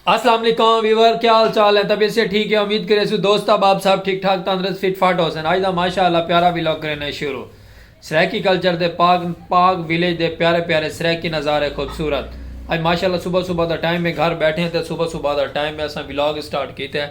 اسلام علیکم ویور کیا حال چال ہیں طبیعت سے ٹھیک ہے امید کرے سو دوست احباب سب ٹھیک ٹھاک تندرست فٹ فاٹ ہوسن آج دا ماشاءاللہ پیارا ویلاگ کرینے شروع سرائیکی کلچر دے پاک پاک ویلیج دے پیارے پیارے سرائیکی نظارے خوبصورت آج ماشاءاللہ صبح صبح دا ٹائم ہے گھر بیٹھے ہیں تے صبح صبح دا ٹائم ہے اساں ویلاگ سٹارٹ کیتے ہیں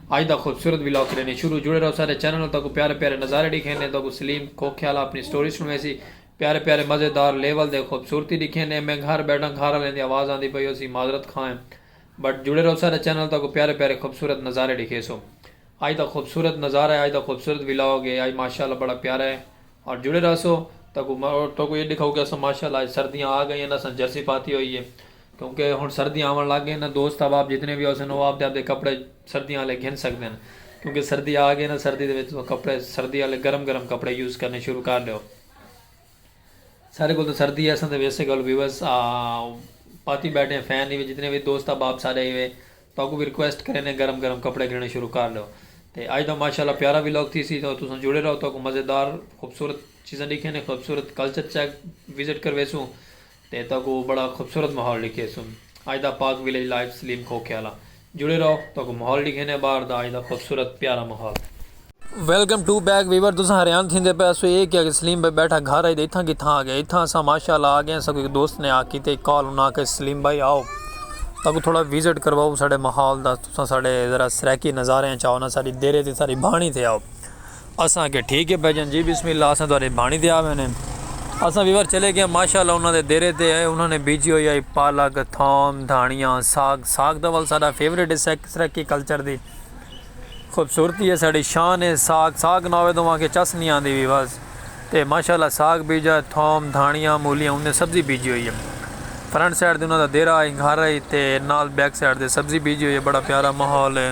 اج دا خوبصورت ولاگ کرینے شروع جڑے رہو سارے چینل نال تہاکوں پیارے پیارے نظارے ڈکھینے تہاکوں سلیم کھوکھے آلا اپنی سٹوری سنڑویسی پیارے پیارے مزیدار لیول دے خوبصورتی ڈکھینے میں گھر بیٹھاں گھر آلیں دی آواز آندی پئی ہوسی معذرت خواہ ہیں بٹ جڑے رہو سارے چینل نال تہاکوں پیارے پیارے خوبصورت نظارے ڈکھیسوں اج دا خوبصورت نظارہ ہے اج دا خوبصورت ولاگ ہے اج ماشاءاللہ بڑا پیارا ہے اور جڑے رہسو تہاکوں تہاکوں اے ڈکھاؤ کہ اساں ماشاءاللہ اج سردیاں آ گئیاں اساں جرسی پاتی ہوئی ہے کیونکہ ہنڑ سردیاں آونڑ لگ گئین نا دوست احباب جتنے وی ہوسن او آپدے آپدے کپڑے سردیاں آلے گھن سگدن کیونکہ سردی آ گئی نا سردی دے وچ تساں کپڑے سردی آلے گرم گرم کپڑے یوز کرنے شروع کر ڈیو سارے کول تاں سردی ہے اساں تاں ویسے گل ویوس آ پاتی بیٹھے ہیں فین نہیں جتنے وی دوست احباب سارے ای وے تاکوں وی ریکویسٹ کرینے گرم گرم کپڑے گھننے شروع کر ڈیو تے اج دا ماشاءاللہ پیارا وی لوگ تھی سی تو تساں جڑے رہو تاکوں مزیدار خوبصورت چیزاں ڈیکھیں نے خوبصورت کلچر چیک وزٹ کرویسوں. تے تہاکوں بڑا خوبصورت ماحول ڈکھیسوں اج دا پاک ویلیج لائیو سلیم کھوکھے آلا جڑے رہو تہاکوں ماحول ڈکھینے باہر دا اج دا خوبصورت پیارا ماحول۔ ویلکم ٹو بیک ویور تساں حریان تھیندے پئے ہسو اے کیا کہ سلیم بھائی بیٹھا گھر اچ تے اتھاں کتھاں آگئے اتھاں اساں ماشاءاللہ آگئے اساکوں ہک دوست نے آ کیتے کال انہاں آکھیا سلیم بھائی آؤ تہاکوں تھوڑا وزٹ کرواؤ ساڈے ماحول دا تساں ساڈے ذرا سرائیکی نظاریاں چ آؤ نا ساڈی دیرے تے ساڈی بھانڑی تے آؤ اساں آکھیا ٹھیک اے بھیجن جی بسم اللہ اساں تہاڈے بھانڑی تے آوینے۔ اساں ویور چلے گیاں ماشاء اللہ انہاں دے دیرے تے ائے انہاں نے بیجی ہوئی آئی پالک، تھوم، دھانڑیاں، ساگ، ساگ تاں ول ساڈا فیورٹ اے سرائیکی کلچر دی خوبصورتی اے ساڈی شان اے ساگ ساگ نہ ہووے تاں اوہاں کھے چس نی آندی وی بس تے ماشاء اللہ ساگ بیجا تھوم، دھانڑیاں، مولیاں اوندے سبزی بیجی ہوئی اے فرنٹ سائیڈ تے انہاں دا دیرہ اے گھر اے تے نال بیک سائیڈ تے سبزی بیجی ہوئی اے بڑا پیارا ماحول اے۔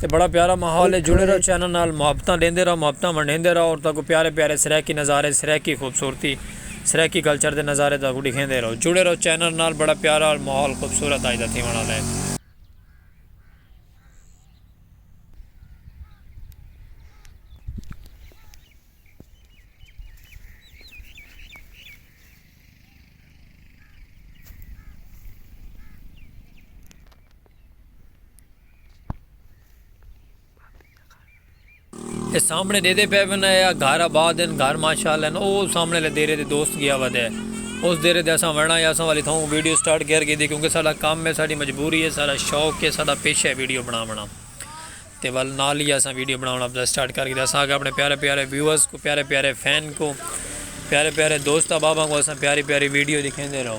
تے بڑا پیارا ماحول ہے جڑے رہو چینل نال محبتاں ڈیندے رہو محبتاں ونڈیندے رہو اور تاکو پیارے پیارے سرائیکی نظارے سرائیکی خوبصورتی سرائیکی کلچر دے نظارے تاکو ڈکھیندے رہو جڑے رہو چینل نال بڑا پیارا ماحول خوبصورت آج دا تھیون والا ہے۔ سامنے ڈیدے پے ون اے آ گھر آباد ہن گھر ماشاءاللہ ہن او سامنے لے دیرے دے دوست گیا ودے اس دیرے دے اساں ونڑا یا اساں والی تھاؤں ویڈیو سٹارٹ کر گئی دی کیونکہ ساڈا کام ہے ساڈی مجبوری ہے ساڈا شوق ہے ساڈا پیشہ ہے ویڈیو بنا ونا تے ول نال ہی اساں ویڈیو بنا ونا سٹارٹ کر گئی دی اساں اپنے پیارے پیارے ویورز کو پیارے پیارے فین کو پیارے پیارے دوست احباب کو اساں پیاری پیاری ویڈیو دکھیں دے رہو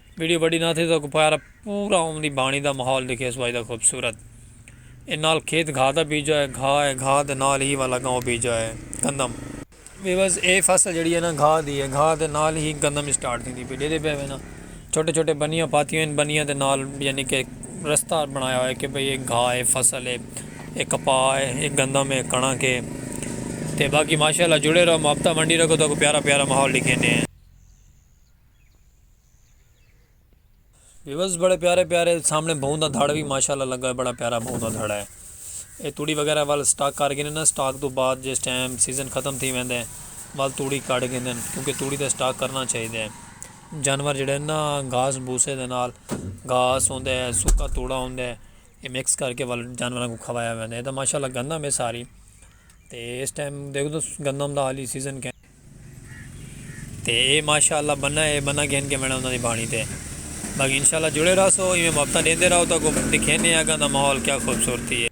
ویڈیو وڈی نہ تھے تاں کو پارا پورا اوم دی بانی دا ماحول دکھیس وائی دا خوبصورت اے نال کھیت گھا دا بیجا اے گھا اے گھا دے نال ہی والا گاؤں بیجا اے گندم ویوز اے فصل جیڑی اے نا گھا دی اے گھا دے نال ہی گندم وی سٹارٹ تھیندی پئی ڈیدے پئے وینا چھوٹے چھوٹے بنیاں پاتیوں ہن بنیاں دے نال یعنی کہ رستہ بنایا ہوئے کہ بھئی اے گھا اے فصل اے اے کپا اے اے گندم اے کنڑک اے تے باقی ماشاءاللہ جڑے رہو مابتا منڈی رکھو تاکو پیارا پیارا ماحول ڈکھینے۔ ویورز بڑے پیارے پیارے سامنے بہوں دا دھڑ بھی ماشاءاللہ لگا ہے بڑا پیارا بہوں دا دھڑا ہے اے توڑی وغیرہ وال سٹاک کر گئے نا سٹاک تو بعد جس ٹائم سیزن ختم تھی ویندے ہیں وال توڑی کٹ گئے ہیں کیونکہ توڑی دا سٹاک کرنا چاہی دے ہیں جانور جڑے نا گھاس بوسے دے نال گھاس ہوں دے ہیں سکا توڑا ہوں دے ہیں یہ مکس کر کے وال جانوراں کو کھوایا ویندے ہیں یہ تو ماشاءاللہ گندم ہے ساری تے اس ٹائم دیکھ دو گندم دا حالی سیزن کہیں تے اے ماشاء اللہ بننا اے بننا گھن کے وینا انہاں دی بانی تے باقی انشاء اللہ جڑے رہو سو ایویں محبتاں ڈیندے رہو تو کو دکھینے ہیں اگاں دا ماحول کیا خوبصورتی ہے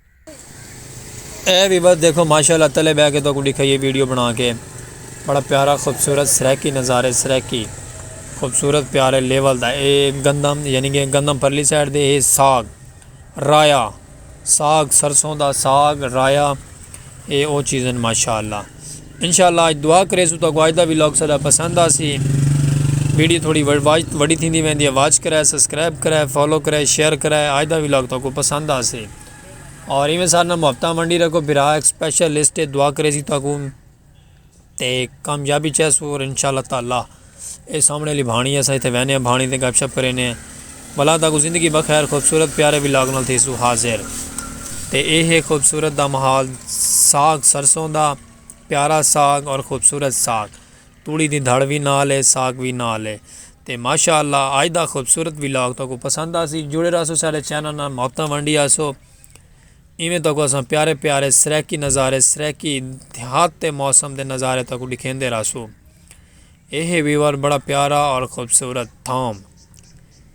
اے بھی بس دیکھو ماشاء اللہ تلے بہ کے تو کو دکھائیے ویڈیو بنا کے بڑا پیارا خوبصورت سریکی نظارے سریکی خوبصورت پیارے لیول دا اے گندم یعنی کہ گندم پرلی سائڈ دے اے ساگ رایا ساگ سرسوں دا ساگ رایا اے او چیزن ماشاءاللہ انشاءاللہ اج دعا کرے سو تو گواج دا ویلاگ سدا پسند آسی ویڈیو تھوڑی وڈی تھی دی ویندی ہے واچ کرے سبسکرائب کرے فالو کرے شیئر کرے اج دا ویلاگ تو کو پسند آسی اور ایویں سارنا محبتہ منڈی رکھو بھرا ایک سپیشل لسٹ دعا کرے سی تو کو تے کامیابی چاہے سو اور انشاءاللہ تعالی اے سامنے علی بھانی اسا ایتھے وینے ہیں بھانی تے گپ شپ کرینے ہیں بلا تاکو زندگی بخیر خوبصورت پیارے وی لاگ نال تھی سو حاضر تے اے ہے خوبصورت دا محال ساگ سرسوں دا پیارا ساگ اور خوبصورت ساگ توڑی دی دھڑ وی نال ہے ساگ وی نال ہے تے ماشاءاللہ آج دا خوبصورت وی لاگ تاکو پسند آسی جڑے رہا سو سارے چینل نال محبتاں ونڈی آسو اینویں تہاکوں اساں پیارے پیارے سرائیکی نظارے، سرائیکی دیہات تے موسم دے نظارے تہاکوں ݙکھیندے رہسوں۔ اے ہے ویور بڑا پیارا اور خوبصورت تھوم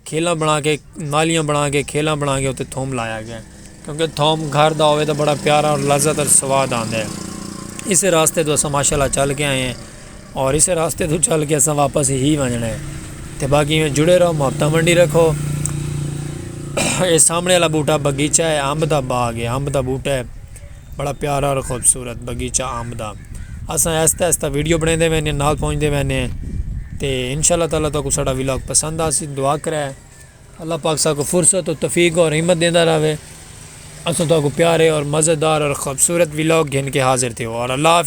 کھیلاں بݨا کے نالیاں بݨا کے کھیلاں بݨا کے اتے تھوم لایا گیا کیونکہ تھوم گھر دا ہووے تاں بڑا پیارا اور لذت اور سواد آندے اسے راستے توں اساں ماشاء اللہ چل کے آئے ہیں۔ اور اسے راستے توں چل کے اساں واپس ہی ونجنا ہے تے باقی میں جڑے رہو محبتاں ونڈی رکھو اے سامنے والا بوٹا بگیچہ ہے امب دا باغ ہے امب دا بوٹا ہے بڑا پیارا اور خوبصورت بگیچہ امب دا اساں ایستا ایستا ویڈیو بنے دے وینے نال پہنچ دے وینے تے انشاءاللہ تعالی تو کو ساڑا ویلاگ پسند آسی دعا کرے اللہ پاک سا کو فرصت و تفیق اور حمد دیندہ رہے اساں تو کو پیارے اور مزیدار اور خوبصورت ویلاگ گھن کے حاضر تھے اور اللہ حافظ